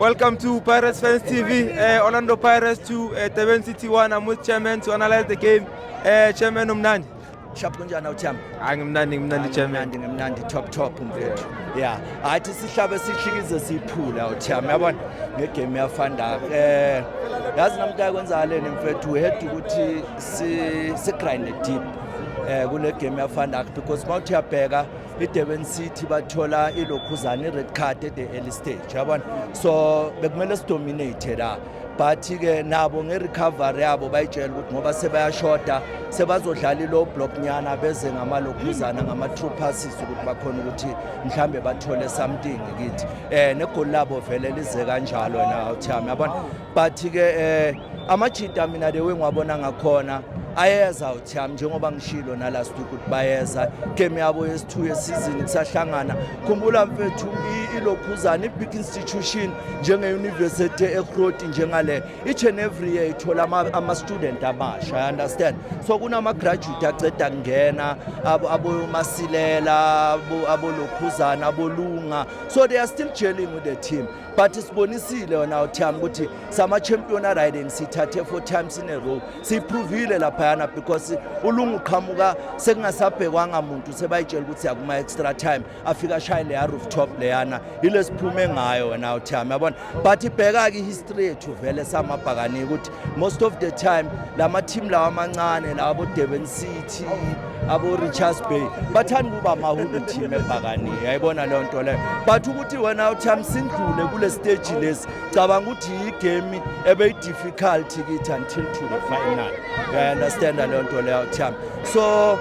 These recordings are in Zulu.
Welcome to Pirates Fans TV. Uh, eh, Orlando Pirates to uh, Teben City 1. I'm with chairman to analyze the game. Uh, chairman umnandi. Shap kunjani awuthami? Hayi ngimnandi ngimnandi chairman. Ngimnandi ngimnandi top top mfethu. Yeah. Hayi sihlabe sihlikize siphula awuthami yabona ngegame yafanda. Eh yazi namhlanje kwenzakale mfethu we had ukuthi si si grind deep. eh kule game yafana because mawuthi yabheka iDurban City bathola ilokhuzana ired card at the early stage yabona so bekumele sidominate la but ke nabo ngerecovery yabo bayitshela ukuthi ngoba sebayashoda sebazodlala ilow block nyana beze ngamalokhuzana ngama-true passes ukuthi bakhona ukuthi mhlambe bathole something kithi um negoli labo vele lize kanjalo na uthami yabona but ke eh amajita mina the way ngiwabona ngakhona ayeza utham njengoba ngishilo nala stuku ukuthi bayeza game yabo yesithu yesizini kusahlangana khumbula mfethu ilokhuzana i-big institution njenge-university ekroti njengale each and every year ithola ama-student amasha i understand so kunama-graduate aceda kungena abomasilela abolokhuzana abolunga so they are still gelling with the team but sibonisile wena uthiyami ukuthi sama-champion ariding sithathe four times in a row siyiphrovile laphayana because ulungu qhamuka sekungasabhekwanga muntu sebayitshela ukuthi yakuma-extra time afika ashaye leya rooftop leyana yile siphume ngayo wena uthiyami yabona but ibheka-ke ihistory yethu vele samabhakanike ukuthi most of the time la mathimu lawa amancane lawa bodurban city abo-richards bay bathanda ukuba amahulu team ebhakani yayibona leyo nto leyo but ukuthi wena uthami sindlule kule stage lesi cabanga ukuthi yigame ebeyi-difficulty kithi until to the final uyaunderstanda leyo nto leyo uthami so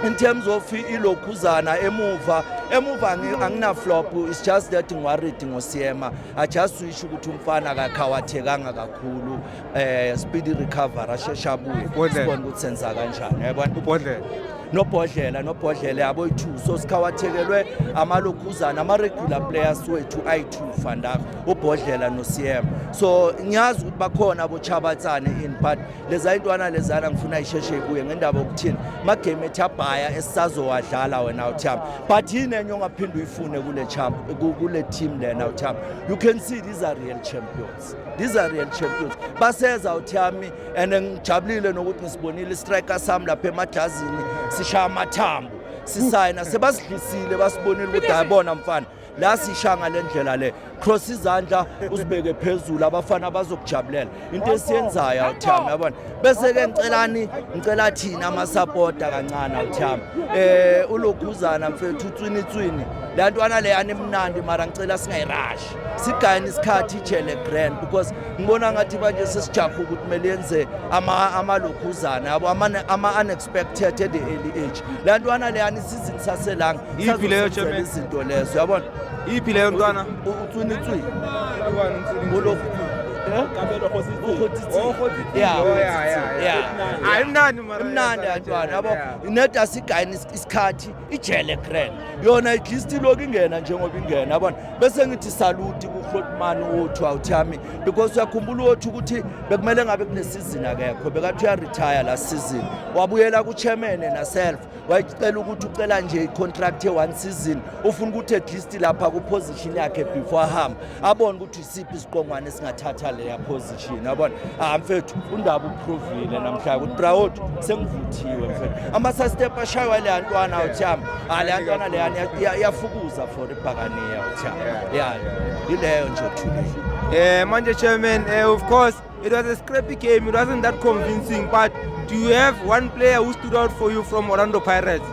in terms of ilokhuzana emuva emuva anginaflop it's just that ngiwaridi ngosiyema ajust isho ukuthi umfana akakhawathekanga kakhulu um eh, speedy recovery asheshe abuye sibone ukuthi senza kanjani yabona ubhodlela nobhodlela nobhodlela yabo oyi-two so sikhawathekelwe amalokhuzana ama-regular players wethu ayi-two fandaka ubhodlela no-cm so ngiyazi ukuthi bakhona abochabatsane in but leza intwana lezana ngifuna isheshe kuye ngendaba yokuthini magame ethi abhaya esisazowadlala wena utham but yini enye ongaphinde uyifune kule champ kule team lena utham you can see these are real champions these are real champions baseza uthami and ngijabulile nokuthi ngisibonile istriker sami lapha emadlazini sishaya amathambo sisayina sebasidlisile basibonile ukuthi hayi bona mfana la sisha ngale ndlela le cross izandla uzibeke phezulu abafana abazokujabulela into esiyenzayo awuthami yabona bese-ke ngicelani ngicela thina amasapota kancane awuthami um eh, ulokhuzana mfethu utswinitswini le ntwana le animnandi mara ngicela singayirashi sigayini isikhathi ijele grand because ngibona ngathi banje sesijahe ukuthi kumele yenze amalokhuzana yabo ama-anex expected at the early age le ntwana leyani isizini saselanga Iphi leyo, sazosenzela Chairman? izinto lezo yabona iphi leyo ntwana utswinitswini ngolofu imnandi mara imnandi yantwana yabo neda sigayini isikhathi ijele grand yona igist iloku ingena njengoba ingena yabona bese ngithi saluti kuhlotmani wothu awuthami because uyakhumbula wothu ukuthi bekumele ngabe kunesizini akekho bekathi uyaretire la season wabuyela kuchemene naself wayicela ukuthi ucela nje icontract ye-one season ufuna ukuthi at least lapha kuposition yakhe before ahamba abone ukuthi siphi isiqongwane singathatha leya position yabona ah mfethu undaba uprovile namhlanje ukuthi proud sengivuthiwe mfethu ama sa step ashaywa le yantwana uthiyami ah le yantwana le yani iyafukuza for ibhakaniya uthiyami yeah ileyo nje thule eh manje chairman eh of course It was a scrappy game. It wasn't that convincing. But do you have one player who stood out for you from Orlando Pirates?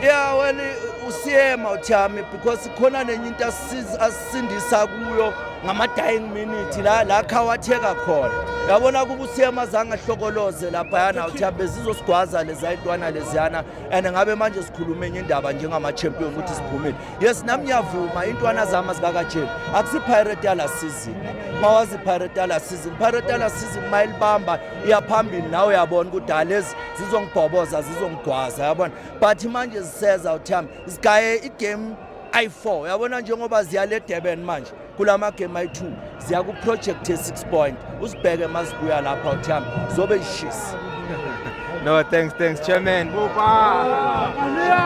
Yeah, well, usiyema uthami because khona nenye into asisindisa kuyo ngama-dying minute la la khawatheka khona yabona kuba usiyema azange ahlokoloze laphayana uthami bezizosigwaza lezayintwana leziyana and ngabe manje sikhuluma enye indaba njengama-champion ukuthi siphumile yes nami ngiyavuma intwana zama zikakajeli akusipirate yala season mawazi pirate yala season pirate yala season mayilibamba iyaphambili nawe uyabona ukuthi ha lezi zizongibhoboza zizongigwaza yabona but manje ziseza uthami zigaye igame ayi-four yabona njengoba ziya le durban manje kula magame ayi-two ziya kuproject ye-six point uzibheke mazibuya lapha uthami zobe yishisi no thanks thanks chairman Bupa.